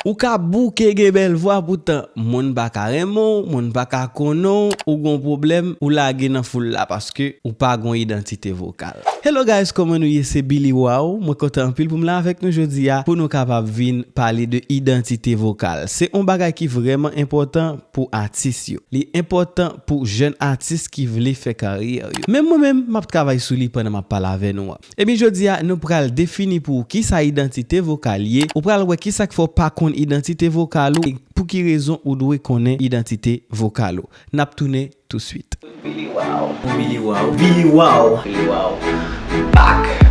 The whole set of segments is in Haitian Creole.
Ou ka bouke gen bèl vwa poutan moun pa ka renmen w, moun pa ka konnen w, ou gon pwoblèm ou lage nan foul la paske ou pa gon idantite vokal. Hello guys koman nou ye se Billy Waw mwen kontan anpil pou m la avèk nou jodi a pou nou kapab vin pale de idantite vokal se yon bagay ki vrèman enpòtan pou atis yo li enpòtan pou jèn atis ki vle fè karyè yo menm mwen menm map travay sou li pandan map pale avè nou an. Ebyen jodi a nou pral defini pou ou kisa idantite vokal ye, ou pral wè kisa k fè w pa konn idantite vokal ou e pou ki rezon ou dwe konnen idantite vokal ou. N ap tounen touswit. Billy Wow Billy Wow Billy Wow Billy Wow back!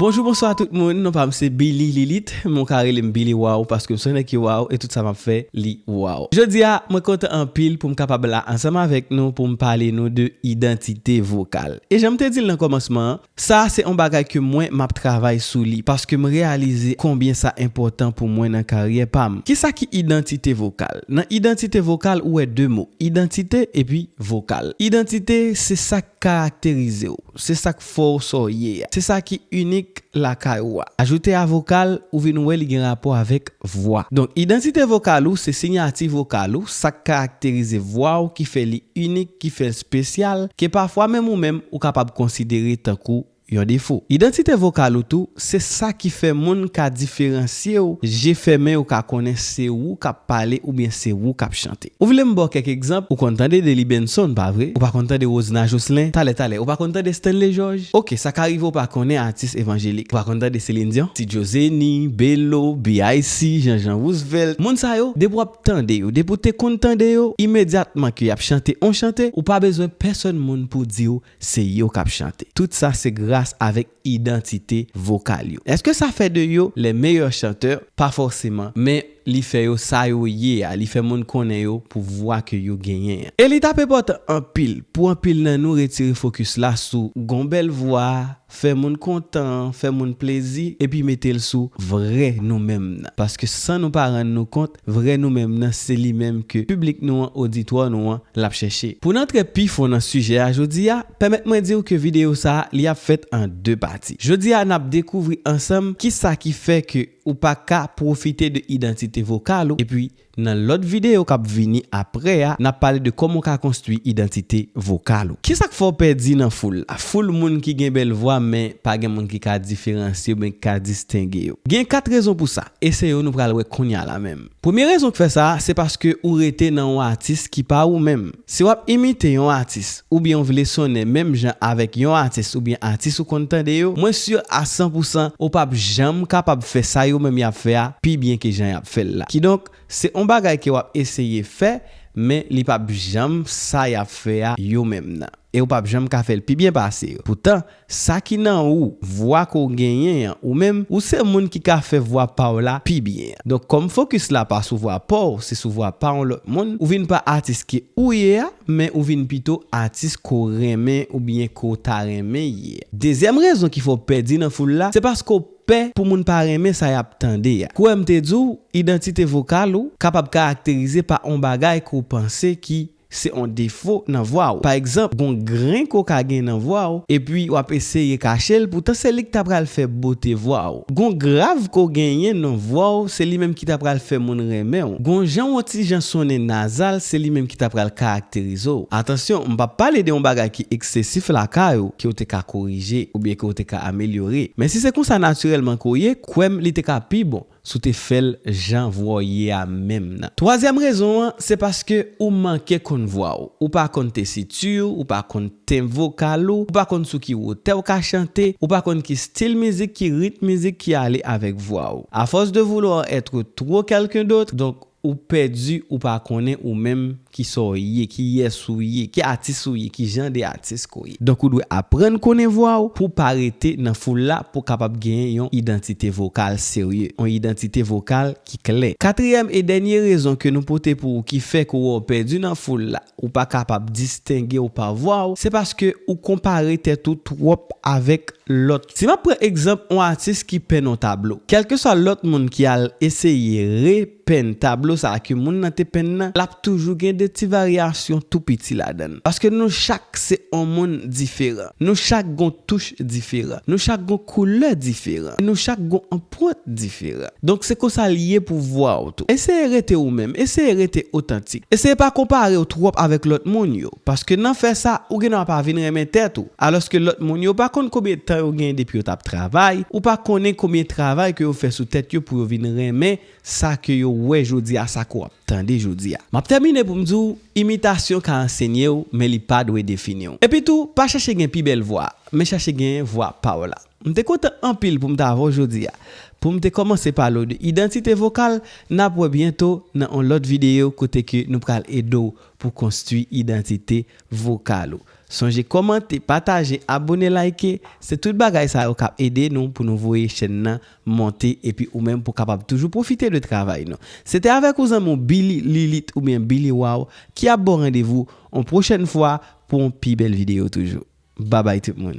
Bonjou bonswa tout moun non pam se Billy Lilith men ou ka relem Billy Waw paskem son nèg ki waw e tout sa map fè li waw. Jodia mwen kontan anpil poum kapab la ansanm avèk nou poum pale nou de idantite vokal. E janm te dil nan kòmansman an, Sa a se on bagay ke mwen map travay sou li paske m reyalize konbyen sa enpòtan pou mwen nan karyè pa m. Kisa ki idantite vokal? Nan idantite vokal ou wè 2 mo, idantite epi vokal. Idantite se sa k karakterize w, se sa k fè w sa w ye a, se sa ki inik lakay ou a. Ajoute a vokal, ou vin wè li gen rapò avèk vwa. Donk idantite vokal ou se sinyati vokal ou, sa k karakterize vwa ou ki fè li inik, ki fè l spesyal, ke pafwa menm ou menm ou kapab konsidere tankou yon defo. Idantite vokal ou tou se sa ki fè moun ka diferansye w, je fèmen yo ka konnen se ou k ap pale oubyen se ou k ap chante. Ou vle m ba w kèk egzanp, ou konn tande Delly Benson, pa vre? Ou pa konn tande Rosna Jocelyn? Talè talè, ou pa konn tande Stanley Georges? Ok, sa ka rive ou pa konnen atis evanjelik. Ou pa konn tande Céline Dion, Ti Djo Zeni, Belo, BIC, Jean Jean Roosevelt. Moun sa yo, depi w ap tande yo, depi w te konn tande yo, imedyatman ke y ap chante on chante, ou pa bezwen pèsòn moun pou di w se yo k ap chante. Tout sa se gras avèk idantite vokal yo. Eske sa fè de yo les meilleurs chanteurs? Pa fòseman, men li fè yo sa yo ye a, li fè moun konnen yo pou vwa ke yo genyen an. E li tap enpòtan anpil pou anpil nan nou retire fokis la sou gon bèl vwa, fè moun kontan, fè moun plezi, epi mete l sou vrè nou menm nan. Paske san nou pa rann nou kont, Vrè nou menm nan se li menm ke piblik nou an, oditwa nou an, l ap chèche. Pou n antre pi fon nan sijè a jodi a, pèmèt mwen di w ke videyo sa a li ap fèt an 2 pati. Jodi a n ap dekouvri ansanm kisa ki fè ke ou pa ka pwofite de idantite vokal ou epi nan lòt videyo k ap vini aprè a n ap pale de kòman w ka konstwi idantite vokal ou. Kisa k fè w pèdi nan foul la? Foul moun ki gen bèl vwa men pa gen moun ki ka diferansye oubyen ki ka distenge yo. Gen 4 rezon pou sa. E se yo nou pral wè kounya la menm. Premye rezon k fè sa, se paske ou rete nan yon atis ki pa ou menm. Si w ap imite yon atis, oubyen w vle sonnen menm jan avèk yon atis oubyen atis ou konn tande yo, mwen si a san pou san ou p ap janm kapab fè sa yo menm y ap fè a pi byen ke jan y ap fè l la. Kidonk, se yon bagay ke w ap eseye fè, men li p ap janm sa y ap fè a yo menm nan. E ou p ap janm ka fè l pi byen pase yo. Poutan, Sa ki nan ou, vwa ke w genyen an, ou menm, ou se moun ki ka fè vwa pa w la pi byen. Donk kòm fokis la pa sou vwa pa w, se sou vwa pa yon lòt moun, ou vin pa atis ke ou ye a, men ou vin pito atis ke w renmen oubyen ke w ta renmen ye. Dezyèm rezon ki fè w pèdi nan foul la, se paske w pè pou moun pa renmen sa y ap tande a. Kwè m te di w, idantite vokal ou kapab karakterize pa yon bagay ke w panse ki Se on defo nan vwa ou. Pa egzanp, gon gren koka gen nan vwa ou, epi wap eseye kache l, poutan se li k ta pral fè bote vwa ou. Gon grav ke w genyen nan vwa ou, se li menm ki ta pral fè moun renmen ou. Gon jan on ti jan sonnen nazal, se li menm ki ta pral karakterize ou. Atansyon, m pap pale de on bagay ki eksesif lakay ou, ke w te ka korije, oubyen ke w te ka amelyore. Men si se konsa natirèlman ke w ye, kwè m li te ka pi bon. Si w te fè l jan vwa w ye a menm nan. Twazyèm rezon an, se paske ou manke konn vwa w. Ou pa konn tesiti w, ou pa konn tenb vokal ou, ou pa konn sou ki wotè w ka chante, ou pa konn ki stil mizik, ki ritm mizik ki ale avèk vwa w. A force de vouloir être trop quelqu'un d'autre, donk Ou pèdi ou pa konnen ou menm ki sa w ye, ki yès ou ye, ki atis ou ye, ki jan de atis ke w ye. Donk ou dwe aprann konnen vwa w pou w pa rete nan foul la pou w kapab genyen yon idantite vokal serye, yon idantite vokal ki klè. Katriyèm e dènye rezon ke nou pote pou ou ki fè ke w wè w pèdi nan foul la, ou pa kapab distenge w pa vwa w, se paske ou konpare tèt ou twòp avèk lòt. Si m ap pran egzanp on atis ki penn on tablo, kèlkeswa lòt moun ki al eseye repenn tablo sa a ke moun nan te penn nan, l ap toujou gen de ti varyasyon tou piti ladan l. Paske nou chak se on moun diferan. Nou chak gon touch diferan. Nou chak gon koulè diferan. E nou chak gon anpwant diferan. Donk se konsa l ye pou vwa w tou. Eseye rete ou menm. Eseye rete otantik. Eseye pa konpare w twòp avèk lòt moun yo. Paske nan fè sa, ou gendwa pa vin renmen tèt ou. Alòske lòt moun yo pa konn konbyen tan yo genyen depi yo t ap travay, ou pa konnen konbyen travay ke yo fè sou tèt yo pou yo vin renmen sa ke yo wè jodi a, sa ke w ap tande jodi a. M ap tèmine pou m di w, imitasyon ka ansenye w, men li pa dwe defini w. Epi tou, pa chache gen pi bèl vwa, men chache genyen vwa pa w la. M te kontan anpil pou m t avè w jodi a, pou m te kòmanse pale w de idantite vokal, n ap wè byento nan yon lòt videyo kote ke nou pral ede w pou konstwi idantite vokal ou. Sonje kòmante, pataje, abone, like, se tout bagay sa yo kap ede nou pou nou voye chèn nan monte epi ou menm pou kapab toujou pwofite de travay nou. Se te avèk ou zanmi w Billy Lilith oubyen Billy Waw ki ap ba w randevou on pwochèn fwa pou on pi bèl videyo toujou. Babay tout moun.